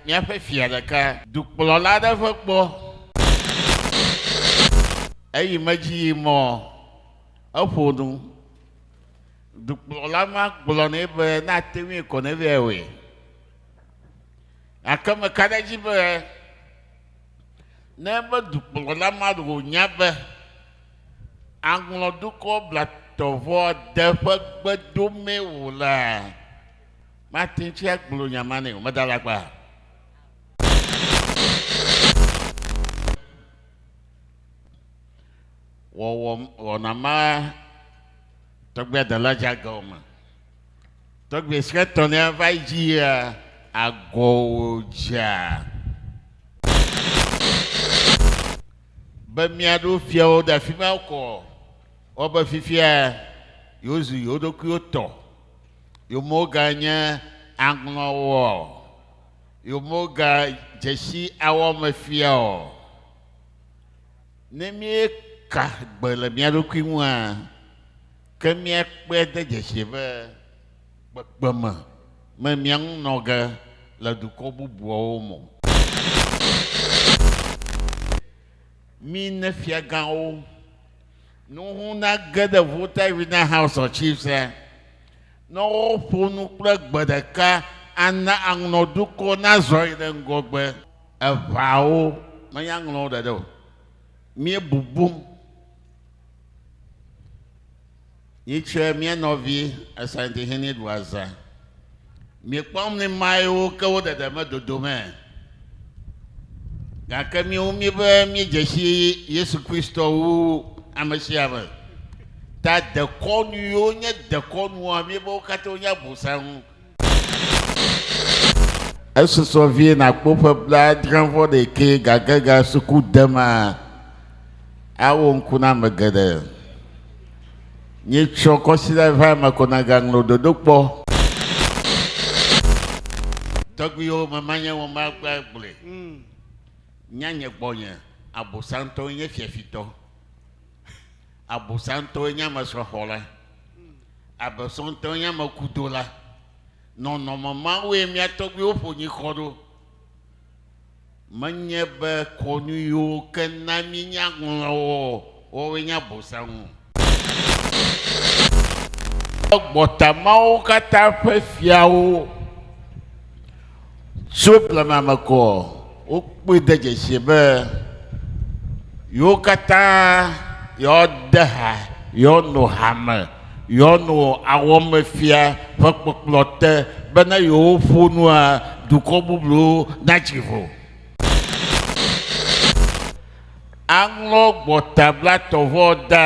Míaƒe fia ɖeka. Dukplɔla aɖe ƒe gbɔ. Eyi me dzi yi mɔ eƒo nu. Dukplɔla ma gblɔ nɛ be ne ate ŋui ko ne vɛ wɔe. Gake meka ɖe edzi be ne be dukplɔla ma ɖe wònya be aŋlɔdukɔ blatɔvɔ de ƒe gbedomee wòlea, Mate ŋu agblɔ nya ma nɛ o. Meda le agba. Wɔwɔ wɔna ma tɔgbe de la dza gɔm me. Tɔgbe si etɔ ne va yi dzi ya agɔ wo dza. Be mia ɖo fiawo ɖe afi ma kɔ. Wɔbe fifia yewozu yewo ɖokuiwo tɔ. Yomoga nye aŋlɔwɔ? Yomoga dzesi awɔ me fia ɔ? Ne míeka gbe le mía ɖokui ŋua, ke míakpɔe de dzesi be kpekpeme me mía ŋu nɔ ge le dukɔ bubuawo me o. Míne fiagãwo. Nuŋu nage ɖe Volta Arena House of Chiefs la, ne woƒo nu kple gbe ɖeka ana aŋlɔ dukɔ nazɔ yi ɖe ŋgɔgbe. Eʋaawo menye aŋlɔwo ɖeɖe o. Míebubum. Yi tsɛ mía nɔvi Asante Hene ɖu azã. Mì kpɔm ni mae wo ke wo ɖeɖe me dodo mɛ. Gake mì wu mì be mì dze shi Yesu Kristɔ wu ameshiame. Ta dekɔnu yi wo nye dekɔnua mì be wo katã wo nye abosanŋu. Esusɔ vie nàkpɔ ƒe blaadre vɔ ɖekɛ gage ga suku dema awo ŋku na ame geɖe. Nyetsɔ kɔsiɖa va eme ko nagaŋlɔ ɖoɖo kpɔ. Tɔgbuiwo memanye womagba gblɔe nya nye gbɔnye abosantɔ nye fiafitɔ. Abosantɔe nye ame srɔ̃xɔla. Abosantɔe nye ame kudola. Nɔnɔme mawoe mía tɔgbuiwo ƒo nyikɔ ɖo. Menye be kɔnu yiwo ke na míenya ŋlɔ wo o, woawoe nye Abosam. Gbɔta mawo katã ƒe fiawo. Tso blema me koa, wokpɔe de dzesi be yewo katã yewoade ha, yewoano hame, yewoano awɔmefia ƒe kpɔkplɔ te be ne yewoƒo nua, dukɔ bubuwo natsi vo. Aŋlɔ gbɔtablatɔvɔ dã.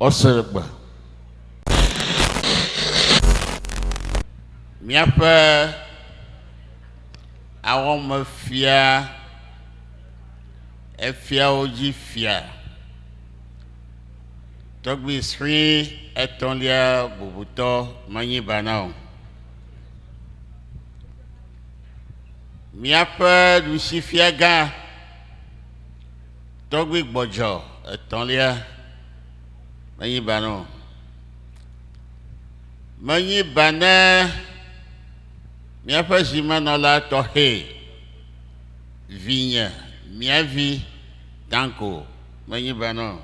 Ɔsegbe. Míaƒe awɔmefia efiawo dzi fia tɔgbi sri etɔ̃lia bubutɔ menyi bana o. Míaƒe ɖusifiagã Tɔgbi gbɔdzɔ etɔ̃lia menyi ba ne o. Menyi ba ne míaƒe zimenɔla tɔxɛ, vinye, mía vi, Danko, menyi ba ne o.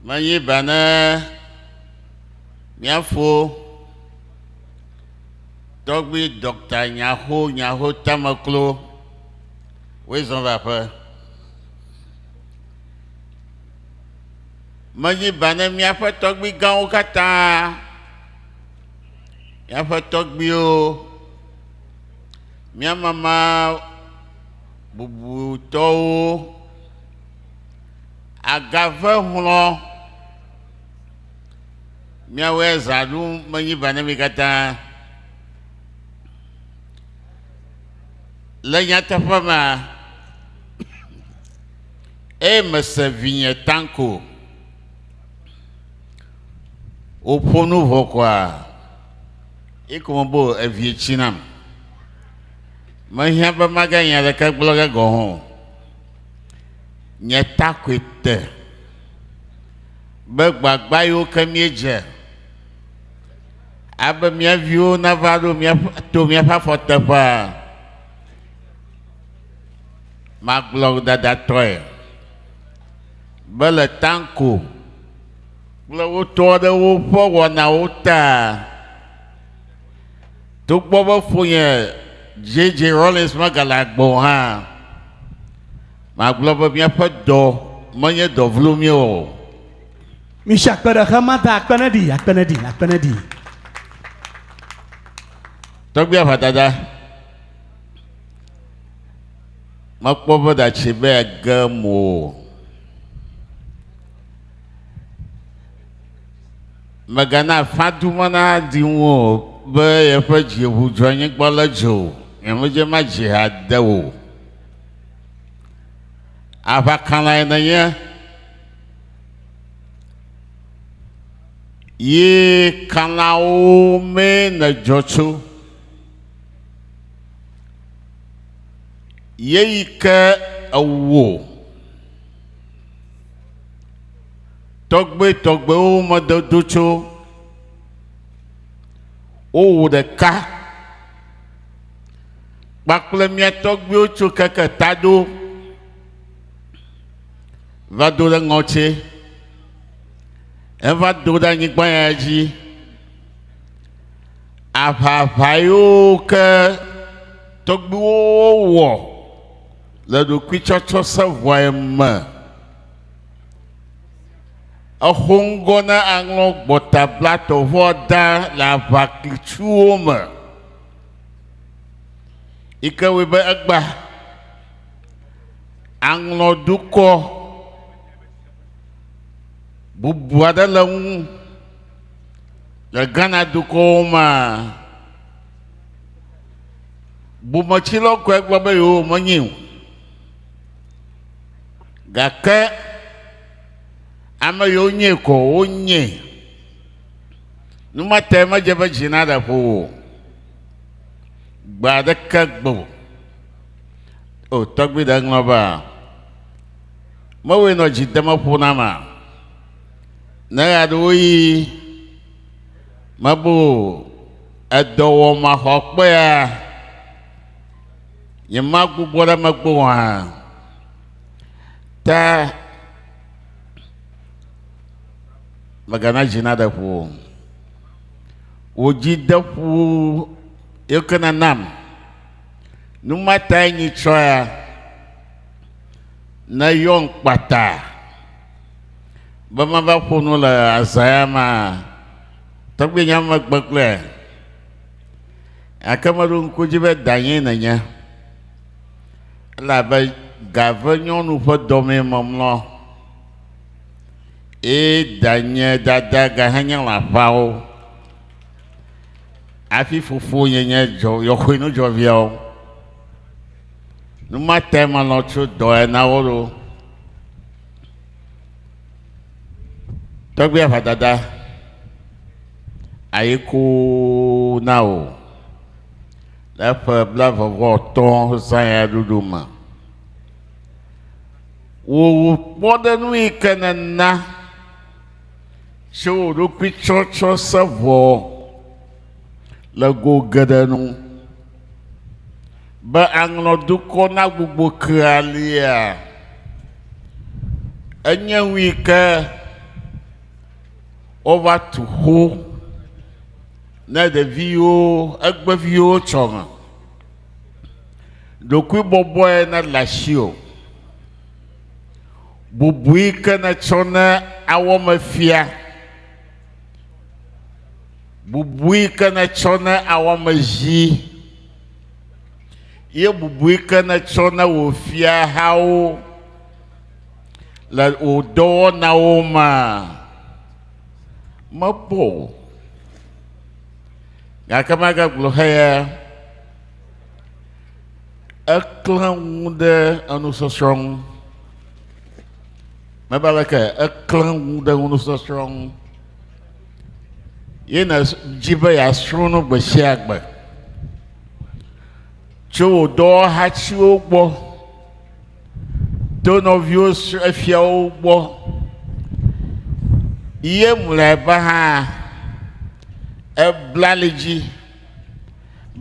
Menyi ba ne mía fo tɔgbi dɔkta Nyaxo Nyaxo Tameklo Woe zɔ̃ va aƒe. Medzi ba ne míaƒe tɔgbui gãwo katã, míaƒe tɔgbuiwo, mía mama bubutɔwo agave hlɔ̃ míawoe zã ɖu menyi ba ne mi katã. Le nyateƒe mea, eye mese vinye Tanko wòƒo nu vɔ koa, eko me bo evie tsi nam. Mehiã be maganye aleke gblɔ ge gɔ̃ hã o. Nye ta koe te be gbagba yiwo ke míedze Abe mía viwo nava ɖo míaƒe to míaƒe afɔ teƒea. Magblɔ dadatɔe be le tanko kple wotɔ aɖewo ƒe wɔnawo ta. Togbɔ be ƒonye JJ Rollins megale agbe o hã, magblɔ be míaƒe dɔ menye dɔ vlo mí o. Misi akpe ɖe xe ma ta akpe ne ɖi akpe ne ɖi akpe ne ɖi. Tɔgbi aʋadada. Mekpɔ be datsi be age mo o. Megana fadu me na di ŋu o be yeƒe dzi ʋu dzɔ anyigba le dzo. Nyemedze ma dzi ha de o. Aʋakala ye nenye. Yi Kanawo mee nèdzɔ tso. Yeyi ke ewò tɔgbuitɔgbuiwo me dodo tso. Wowò ɖeka kpakple mía tɔgbuiwo tso keke taɖo. va do ɖe ŋɔtsi. Eva do ɖe anyigba ya dzi. Aʋaʋa yiwo ke tɔgbuiwo wɔ le ɖokuitsɔtsɔ seʋɔa me. Exo ŋgɔ na aŋlɔ gbɔta bla tɔʋua da le aʋaklitsuwo me yi ke wɔe be egba. aŋlɔ dukɔ bubu aɖe le ŋu le Ghana dukɔwo mea, bometsilɔ kɔe gblɔ be yewo menyi o. Gake ame yiwo nyee kɔ wonye. Numate medze be dzi naɖe ƒo o. Gbe aɖeke gbe o. O tɔgbui ɖe ŋlɔ be a. Mewɔe nɔ dzi deme ƒo na ma. Ne ya ɖewo yi mebo edɔ wɔ ma xɔ kpe ya. Nye ma gbugbɔ ɖe megbe wɔ hã. Ta megana dzi na ɖe ƒo. Wò dzi de ƒo yekena nam. Nu ma tae nyitsɔ ya neyɔm kpata be mava ƒo nu le azãya ma tɔgbi nya megbe kple ake meɖo ŋku dzi be danye nenye elabe gave nyɔnu ƒe dɔmee memlɔ eye danye dada gahenye lãfawo Hafi fofo nye nye dzɔ yɔxoe nu dzɔ viawo. Nu ma te manɔ tso dɔ ena wo ɖo. Tɔgbia va dada ayi ko na o. Le eƒe blavɔvɔ tɔ zãya ɖuɖu me. Wò wò kpɔ ɖe nu yi ke nena. Tso wò ɖokui tsɔtsɔ se vɔ le go geɖe nu. Be aŋlɔ dukɔ na gbogbo kea lia. Enye ŋui ke wova tu xo ne ɖeviwo egbeviwo tsɔ ŋa. Ɖokui bɔbɔe na le asiwò. Bubui ke nètsɔ ne awɔmefia? Bubui ke nètsɔ ne awɔmezi? Ye bubui ke nètsɔ ne wò fiahawo le wò dɔwɔnawo mea? Mekpɔ o. Gake magagblɔ heya. eklẽ ŋu ɖe enusɔsrɔ̃ ŋu. Mebe aleke eklẽ ŋu ɖe enusɔsrɔ̃ ŋu. Ye nèdzi be yeasrɔ̃ nu gbe sia gbe. Tso wò dɔwɔhatiwo gbɔ, to nɔviwo efiawo gbɔ, ye mlɔeba hã, eblalidzi.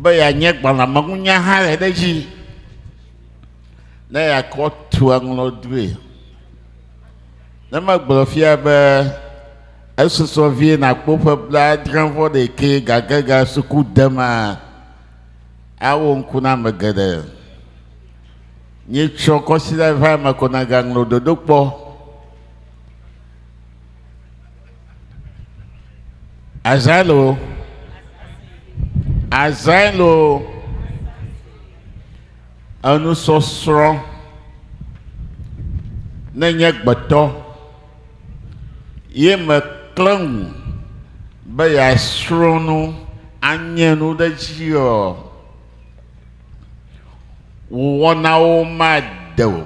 be yeanye gbalẽmeŋunyahae ɖe edzi ne yeakɔ tu aŋlɔ due. Ne megblɔ fia be esusɔ vie nakpɔ ƒe blaadre vɔ ɖekɛ gage ga suku dema, awo ŋku na ame geɖe. Nyetsɔ kɔsiɖa va eme ko nagaŋlɔ ɖoɖo kpɔ. Azaelo. Azaelo. Enusɔsrɔ̃ ne nye gbetɔ ye meklẽ ŋu be yeasrɔ̃ nu anye nu ɖe edzi ɔ, wò wɔnawo made o.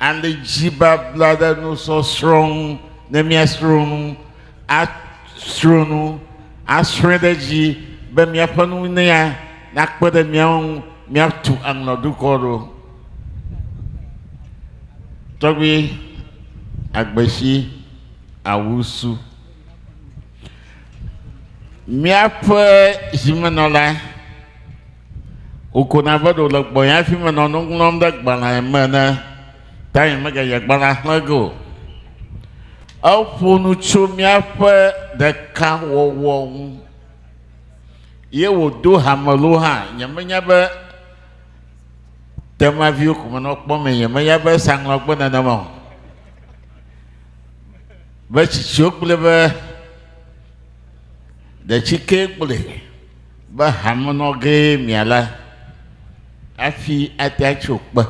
and dzibabla ɖe nusɔsrɔ̃ ŋu ne míasrɔ̃ nu, asrɔ̃ nu, asrɔ̃e ɖe edzi be míaƒe nunya nakpe ɖe mía ŋu míatu aŋlɔdukɔ ɖo. Tɔgbi Agbesi Awusu, míaƒe zimenɔla. Wokona be ɖe wòle gbɔnye hafi menɔ nu ŋlɔm ɖe gbalẽa me ene, ta nyemeganye gbalẽa xlẽ ge o. Eƒo nu tso míaƒe ɖekawɔwɔ ŋu ye wòdo hame loo hã. Nyemenya be temaviwo ko menɔ kpɔm mee, nyemenya be esa ŋlɔ agbe nenema o. Be tsitsiwo kplɔe be ɖe tsikee kplɔe. be hamenɔ gee miale hafi ate atso kpe.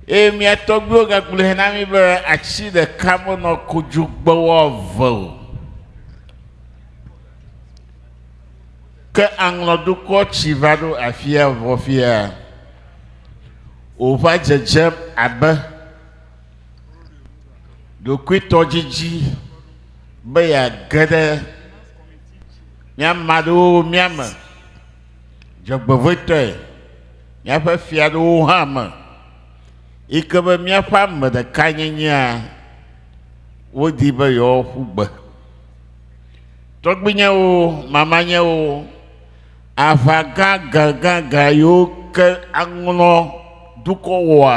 Eye mía tɔgbuiwo gagblɔe na mí be atsi ɖeka menɔ kodzogbewo eve o. Ke aŋlɔdukɔ tsi va ɖo afia vɔ fia wòva dzedzem abe ɖokuitɔdzidzi be yeage ɖe Míama aɖewo mía me dzɔgbevɔ̃etɔe, míaƒe fia aɖewo hã me, yi ke be míaƒe ame ɖeka nyenyea, wodi be yewoaƒu gbe. Tɔgbuinyewo, mamanyewo, aʋa gãgãgãgã yiwo ke aŋlɔ dukɔ wɔa,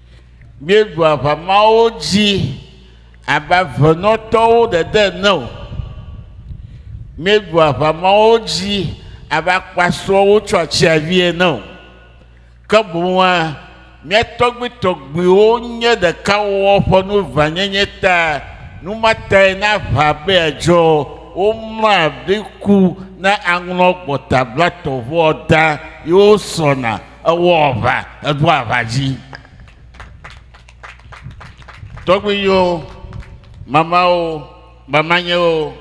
míeɖu aʋa mawo dzi abe avenɔtɔwo ɖeɖe ene o. Míeɖu aʋa mawo dzi abe akpasrɔ̃wo tso atsiavi ene o. Ke boŋua, mía tɔgbuitɔgbuiwo nye ɖeka wɔ ƒe nu ʋãnyenye ta. Nu ma tae ne aʋa be adzɔ, womlɔa ɖi ku ne aŋlɔ gbɔtablatɔʋua da ye wosrɔ̃na. Ewɔ aʋa, eɖo aʋa dzi. Tɔgbuiwo, mamawo, mamanyewo,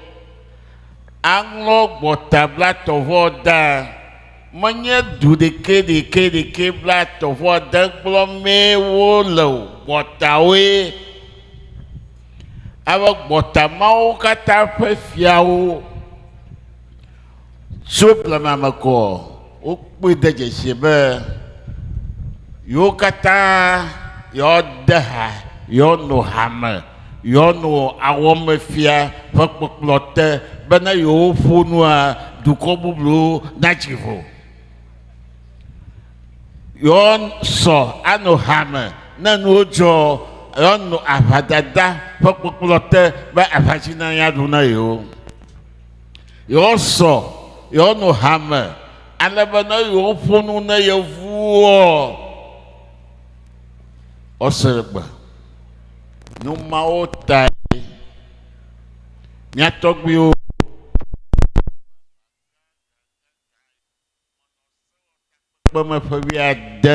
aŋlɔ gbɔta blatɔ̃-vɔ da. Menye du ɖekɛ ɖekɛ ɖekɛ blatɔ̃-vɔ de gblɔ mee wo le o, gbɔtawoe. Abe gbɔta mawo katã ƒe fiawo. Tso blema me koa, wokpɔe de dzesi be yewo katã yewoade ha, yewoano hame, yewoano awɔmefia ƒe kpɔkplɔ te be ne yewoƒo nua, dukɔ bubuwo natsi vo. Yewoasɔ ano hame ne nuwo dzɔ, yewoano aʋadada ƒe kpɔkplɔ te be aʋatsi nanya ɖo na yewo. Yewoasɔ, yewonɔ hame, ale be ne yewoƒo nu ne yevuwoɔ, woasrẽ gbe. Nu mawo tae mía tɔgbuiwo. kpeme ƒe wuiade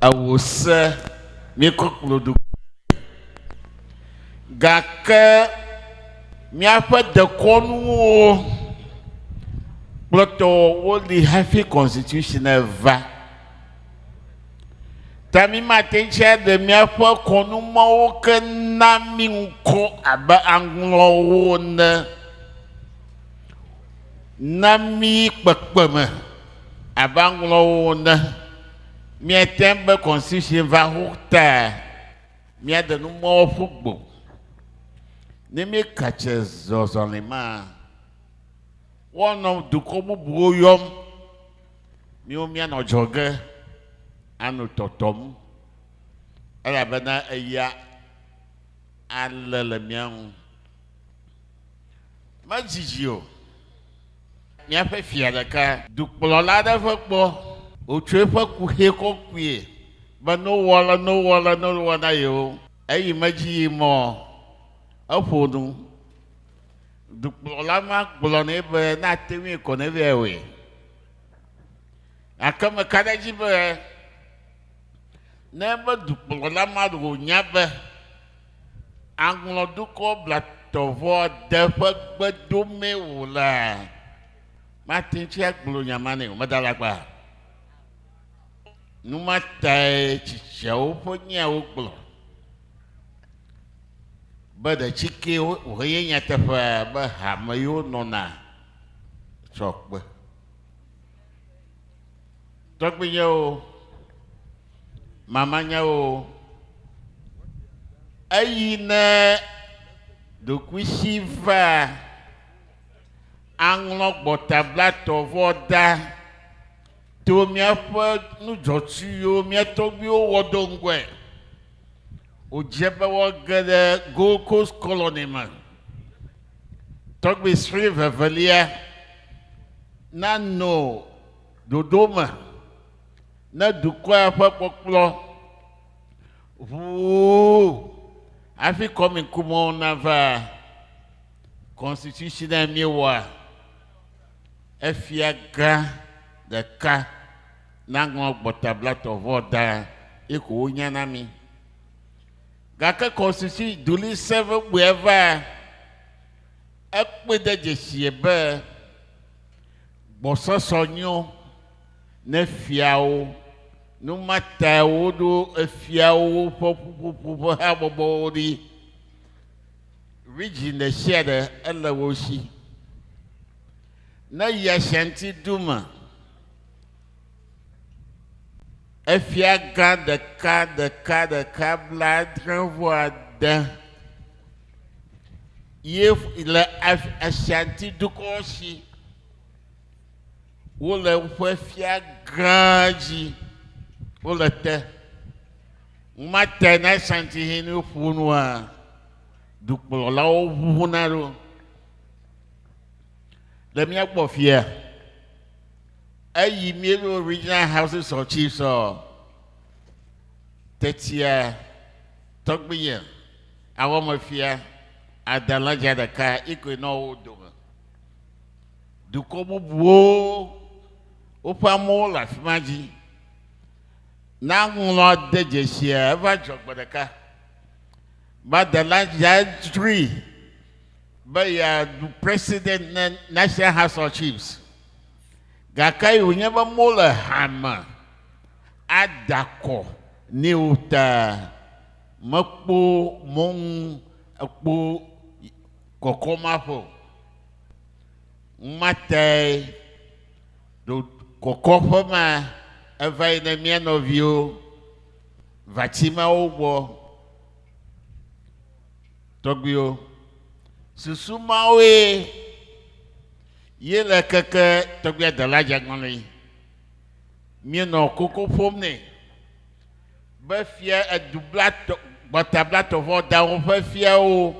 ewo se míekɔ kplɔ ɖokuiwo gake míaƒe dekɔnuwo kplɔtɔ woli hafi constitution va ta mi mate ŋu aɖe míaƒe kɔnu mawo ke na mi ŋkɔ abe aŋlɔwo ne Na mí kpekpeme abe aŋlɔwo ene. Míate ŋu be constitution va ho ta míade nu mɔ ƒu gbo. Ne míeka tse zɔzɔli ma, woanɔ dukɔ bubuwo yɔm. Míwo míanɔ adzɔge ano tɔtɔm elabena eya ale le mía ŋu. Medzi dzi o. Míaƒe fia ɖeka. Dukplɔla aɖe ƒe gbɔ. Wòtso eƒe kuxi kɔkɔe be nowɔ ale nowɔ ale nowɔ na yewo. Eyi medzi yi mɔ. Eƒo nu. Dukplɔla ma gblɔ nɛ be ne ate ŋui ko ne vɛ wɔe. Gake meka ɖe edzi be ne ebe dukplɔla ma wònya be. aŋlɔ dukɔ blatɔvɔ de ƒe gbe dome o la, mate ŋu agblɔ nya ma nɛ o. Meda la kpa. Nu ma tae tsitsiawo ƒe nyawo gblɔ be ɖe tsike wòhenye nyateƒea be hame yiwo nɔna tsɔ kpe. Tɔgbuinyewo, mamanyawo. Eyi ne ɖokuisi va aŋlɔ gbɔtablatɔ vɔ da to míaƒe nudzɔtsuwo míatɔgbiwo wɔ do ŋgɔe. Wodze be wɔ ge ɖe Gold Coast Colony me. Tɔgbi sri vevelia nano ɖoɖo me. ne dukɔa ƒe kpɔkplɔ ʋuu hafi kɔmikumɔwo nava constitutionnel míewɔa, efia gã ɖeka naŋlɔ gbɔtablatɔ vɔ da ye ko wonya na mí. Gake constitution duli sẽ vegbea va ekpɔe de dzesie be gbɔsɔsɔ nyo. ne fiawo, nu ma tae woɖo efiawo ƒe ƒuƒoƒo ƒe habɔbɔwo ɖi. Region ɖe sia ɖe ele wo si. Ne yi Ashanti du me, efia gã ɖeka ɖeka ɖeka blaadre vɔ ade ye le Ashanti dukɔ si. Wole woƒe fia gã dzi. Wole te. Ŋuma te na santi hin ne woƒo nua, dukplɔlawo ʋuʋuna ɖo. Le mía gbɔ fia, eyi míeɖo Regional Houses of Chiefs ɔ, tetia tɔgbiye awɔmefia adalaja ɖeka yi koe nɔ wo dome. dukɔ bubuwo woƒe amewo le afi ma dzi. Na ŋlɔ de dzesiea eva dzɔ gbe ɖeka. Madela ya dzroe be yeaɖu president ne National House of Chiefs. Gake yi wònye be mole hame ada kɔ ne wo ta mekpo mɔnu ekpo kɔkɔm aƒe o. Ŋumatae ɖo kɔkɔƒe ma eva yi ne mía nɔviwo va tsi ma wo gbɔ. Tɔgbuiwo, susu mawoe ye le keke tɔgbuia dela dzeagbɔnɔe. Míenɔ koko ƒom nɛ. be fia edu blatɔ gbɔta blatɔ vɔ dawo ƒe fiawo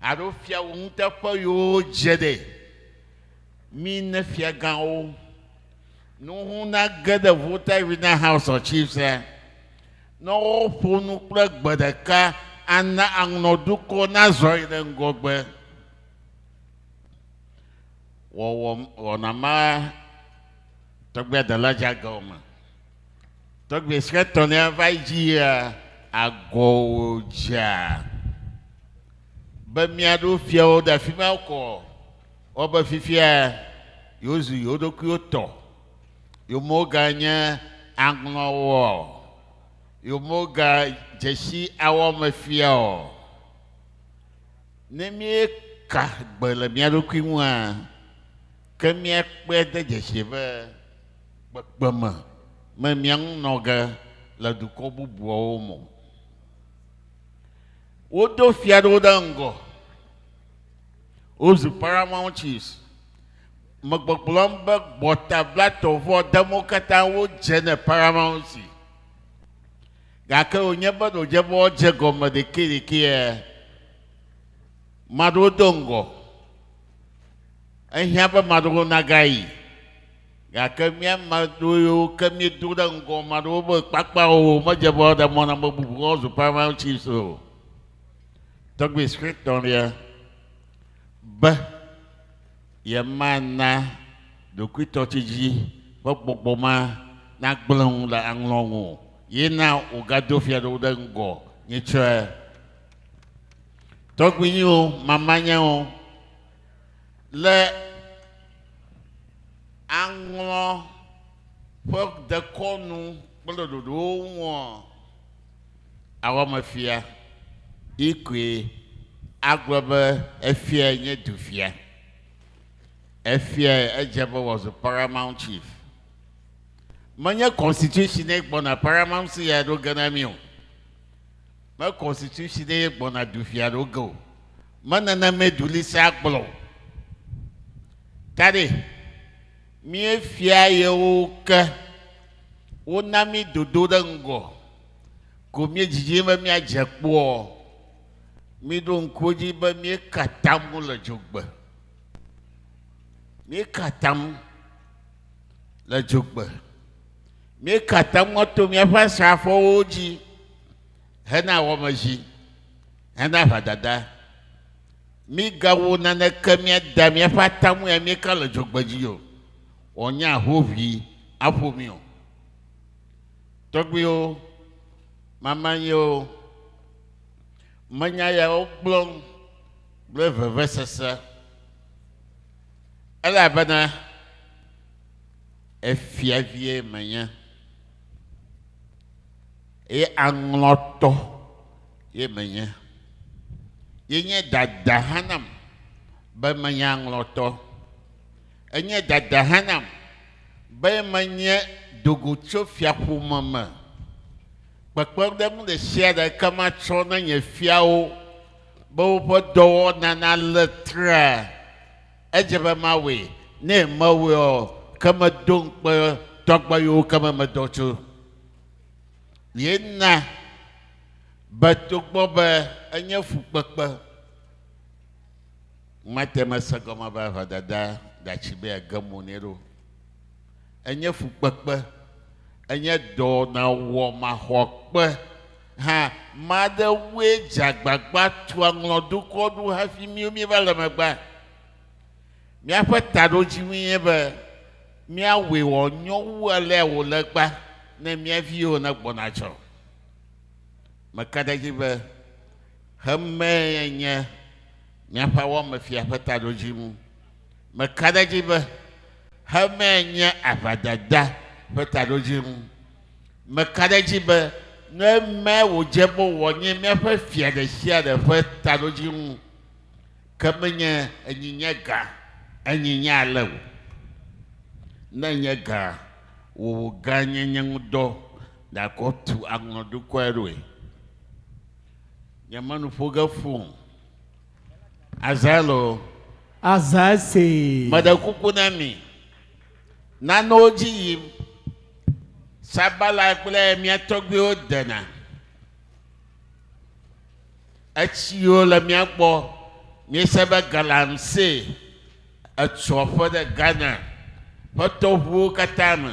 alo fiawo ŋuteƒe yiwo dze ɖe mi ne fiagãwo nuhu nage ɖe Volta Arena House of Chiefs la, ne woƒo nu kple gbe ɖeka ana aŋlɔ dukɔ nazɔ yi ɖe ŋgɔgbe. Wɔwɔ wɔna ma tɔgbe dela dzeage o me. Tɔgbe si etɔ̃lia va dzia agɔ wòdzea be míaɖo fiawo ɖe afi ma kɔ wɔbe fifia yewozu yewo ɖokuiwo tɔ. Yewomeganye aŋlɔwo o. Yewomegadze si awɔ eme fia o. Ne míeka gbe le mía ɖokui ŋua, ke míakpɔe de dzesi be kpekpeme me mia ŋu nɔ ge le dukɔ bubuawo me o. Wodo fia ɖewo ɖe ŋgɔ. Wozu Paramount Chiefs, me gbɔgblɔm be gbɔtablatɔ vɔ dem wo katã wodze ne Paramount si. Gake wònye be ɖodze be wodze gɔme ɖekɛɖekɛe. Maɖewo do ŋgɔ. Ehiã be maɖewo nagayi. Gake mía ame aɖewo yiwo ke míedo ɖe ŋgɔ ame aɖewo be kpakpa o, medze be woaɖe mɔ na ame bubuwo woazu Paramount Chiefs o. Tɔgbui suetɔ ɖe be yemana ɖokuitɔtsidzi ƒe gbɔgbɔ ma nagblẽ ŋu le aŋlɔ ŋu o ye na wògado fia ɖewo ɖe ŋgɔ nyitsɔe. Tɔgbuinyewo, mamanya wo. Le aŋlɔ ƒe dekɔnu kple ɖoɖowo ŋua, awɔmefia yi koe agblɔ be efiae nye dufia. Efiae edze be wòazu Paramount Chief. Menye Constitution-e gbɔna Paramount-e aɖo ge na mí o. Me constitution ɖe ye gbɔna du fia ɖo ge o. Me nana me du li se agblɔ. Ta ɖe mie fia yewo ke wo na mi dodo ɖe ŋgɔ ko mie dzidzi be mia dze kpɔ. Mi ɖo ŋkuwo dzi be mie katamu le dzogbe. Mie katamu le dzogbe. Míekate ŋu ato míaƒe asrafowo dzi hena wɔmedzi, hena aʋadada. Míegawɔ naneke míada míaƒe atamue amieka le dzogbedzi o, wòanye ahoʋi aƒo mí o. Tɔgbuiwo, mama nye wo. Menya yawo gblɔm kple vevesese, elabena, efia vie menye, eye aŋlɔtɔ ye menye. Yenye dada hã nam be menye aŋlɔtɔ. Enye dada hã nam be menye dogotsofiaƒome me. Kpekpeɖeŋu ɖe sia ɖe ke matsɔ na nye fiawo be woƒe dɔwɔna nalé traa. Edze be mawɔe, ne mewɔe ɔ, ke medo ŋukpe tɔgbe yiwo ke me medɔ tso ye na be togbɔ be enye fukpekpe, mate ŋu ase gɔme be ʋedada gatsi be yeage mo nɛ ɖo. Enye fukpekpe, enye dɔnawɔmaxɔkpe. hã made wue dze agbagba tua ŋlɔdukɔ ɖo hafi míwo míeva le megbea? Míaƒe taɖodzinue nye be míawɔe wòanyo wu alea wòle egbea ne mía viwo negbɔna tsɔ. Meka ɖe edzi be xemee nye míaƒe awɔmefia ƒe taɖodzinu. Meka ɖe edzi be xemee nye aʋadada ƒe taɖodzinu. Meka ɖe edzi be ne eme wòdze be wòanye míaƒe fia ɖesiaɖe ƒe taɖodzi ŋu ke menye enyi nye gã enyi nye ale o. Ne enye gã wò gãnyenye ŋu dɔ nàkɔ tu aŋlɔ dukɔe ɖoe. Nyeme nu ƒo ge fũ o. Azael o. Azael see. Meɖe kuku na mi. nanewo dzi yim. Sabala kple mía tɔgbuiwo dena. Etsiwo le mía gbɔ. Míese be galamsey etu aƒe ɖe Ghana ƒe tɔʋuwo katã me.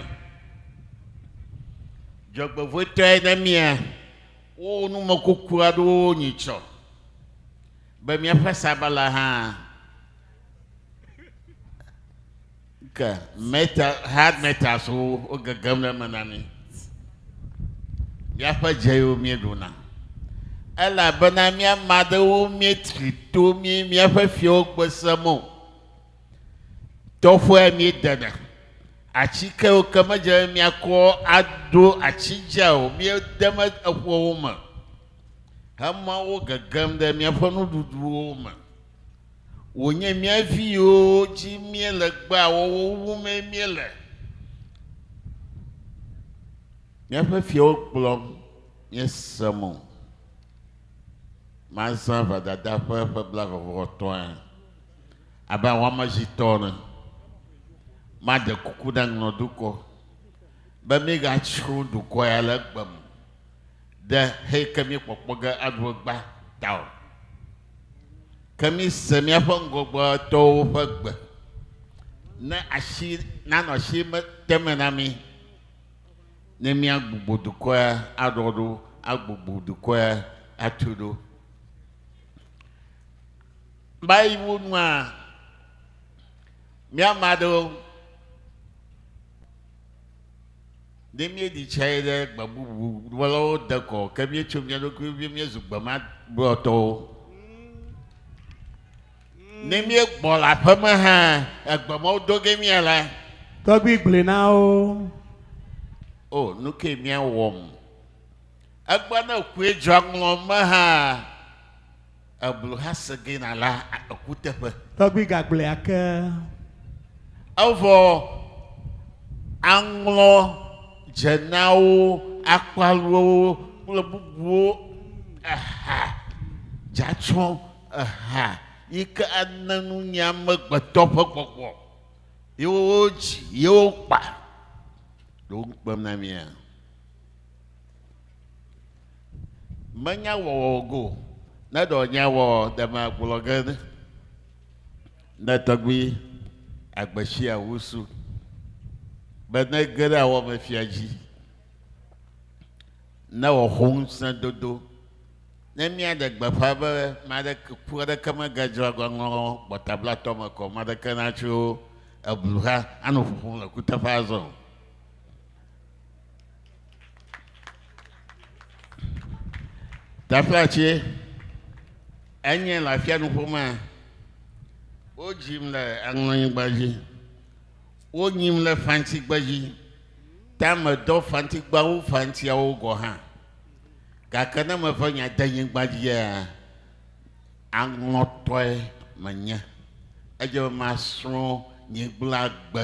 Dzɔgbevɔ̃etɔe na mía, wowɔ numekuku aɖewo nyitsɔ be míaƒe sabala hã. Ke meta hard metals wo wogegem ɖe eme na mí. Míaƒe dzeyewo míeɖuna. Elabena mía ame aɖewo míetri to mí míaƒe fiawo gbese mo. Tɔƒea míedena. Atsikewo ke medze be míakɔ aɖo atsidzea o míede me eƒewo me hema wo gegem ɖe míaƒe nuɖuɖuwo me. wònye mía viwo dzi míele gbea wɔwɔ wumee míele. Míaƒe fiawo gblɔm míese mo. Mazã vadada ƒe ƒe blaeve-vɔ-etɔ̃a abe awɔamedzitɔ ene. Maɖe kuku na ŋlɔdukɔ be míegatsrɔ̃ dukɔ ya le egbe me. ɖe xeyi ke míekpɔkpɔ ge aɖu egbea ta o. Ke míse míaƒe ŋgɔgbetɔwo ƒe gbe ne asi nanɔ asi me te me na mí ne míagbugbɔ dukɔe aɖɔ ɖo, agbogbo dukɔe atu ɖo. Baiwo nua míama ɖewo Ne míeɖi tsae ɖe gbe bubu wɔlawo dekɔ o, ke míetso mía ɖokuiwo vie míezu gbemagblɔtɔwo. Ne míegbɔ le aƒe me hã, egbe ma wodo ge mía la, Tɔgbui gblɔe na wo. o, nu kae míawɔm? Egbea ne kue dzɔa ŋlɔ me hã, Eblu Hasegena la ekuteƒe. Tɔgbui gagblɔe ake. Evɔ aŋlɔ dzenawo, akpaluwo kple bubuwo eha dzatsɔ eha yi ke ane nunya amegbetɔ ƒe gbɔgbɔ yewo dzi yewo kpa. Ɖo ŋukpem na mía. menya wɔwɔ go ne ɖɔ nya wɔ deme agblɔ ge ne tɔgbi agbesi awusu be ne ge ɖe awɔ me fia dzi ne wɔxo ŋusẽ dodo ne mía ɖe gbeƒã be maɖe ku aɖeke megadzra gɔnlɔ gbɔtablatɔ me kɔ maɖeke natso eblu ha anɔ ƒoƒom le kuteƒe azɔ Teƒea tsie? Enye le afianuƒo mea, wodzim le aŋlɔnyigba dzi, wonyim le fantigbe dzi, ta medɔ fantigbawo fantiawo gɔ hã. Gake ne meve nya de nyigba dzia, aŋlɔtɔe menye. Edze be masrɔ̃ nyigblagbe.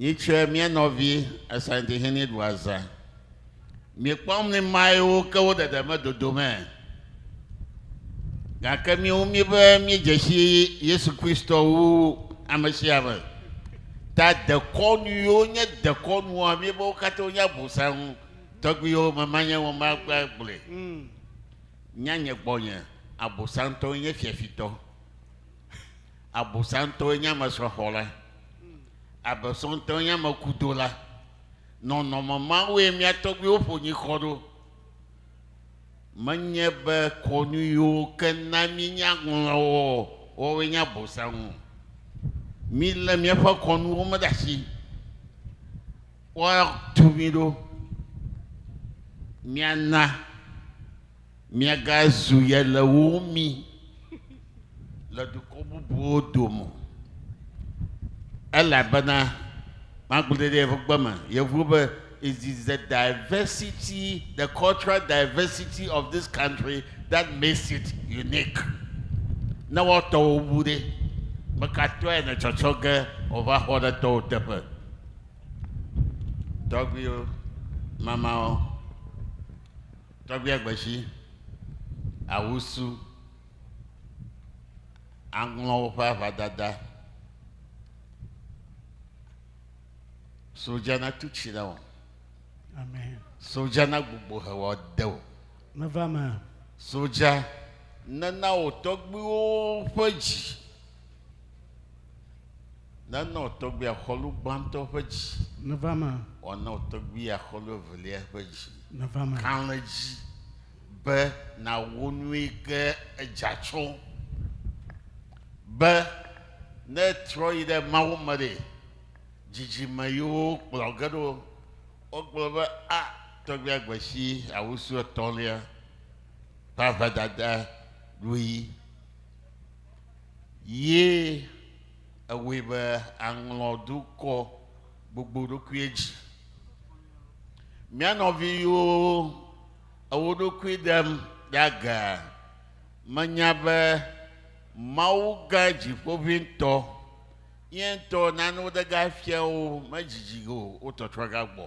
Nyitsɔe mía nɔvi Asante Hene ɖu azã. Miekpɔm ni mae wo ke wo ɖeɖe me dodo me. Gake miwo mi be miedzesi Yesu Kristo wu ame sia ame. Ta dekɔnu yiwo nye dekɔnua mi be wo katã wonye abosaŋu tɔgbiwo me manye wo ma gba gblɔe. Nya nye gbɔnye abosaŋtɔ nye fiafitɔ. Abosantɔe nye ame srɔ̃xɔla. Abosantɔe nye ame kudola. Nɔnɔme mawoe mía tɔgbuiwo ƒo nyikɔ ɖo. Menye be kɔnu yiwo ke na míenya ŋlɔwɔwɔ woawoe nye Abosam o. Mílé míaƒe kɔnuwo me ɖe asi. Woatu mí ɖo. Míana. Miagazu ye le wo mi le dukɔ bubuwo dome o, elabena magblɔe ɖe yeƒe gbe me. Yevuwo be, It is the diversity, the cultural diversity of this country that makes it unique. Ne woatɔwo wu ɖe, mekatɔe ne tsɔtsɔ ge wova xɔ ɖe tɔwo teƒe. Tɔgbuiwo, mamawo. Tɔgbuia Gbedzi, Awusu, aŋlɔ woƒe aʋadada. Sodza natu tsi na wò. Amen. Sodza nagbugbɔ he wò ade wò. Meva me. Sodza nena wò tɔgbuiwo ƒe dzi. Nana wò tɔgbuia xɔlu gbãtɔ ƒe dzi. Nèva eme. Wòana wò tɔgbuia xɔlu evelia ƒe dzi. Nèva eme. Ka le edzi be nàwɔ nui ke edza tsɔ be ne etrɔ yi ɖe Mawu me ɖe, dzidzime yiwo kplɔ ge ɖo wogblɔ be, A, tɔgbuia gbe si awusu etɔ̃lia ƒe ahedada ɖui. ye ewɔe be aŋlɔ dukɔ gbogbo ɖokuie dzi. Mía nɔviwo ewo ɖokui ɖem ɖe aga menya be Mawu gã dziƒoʋĩtɔ ye ŋutɔ nanewo ɖe ga fia wo medzidzi o wo tɔtrɔ ga gbɔ.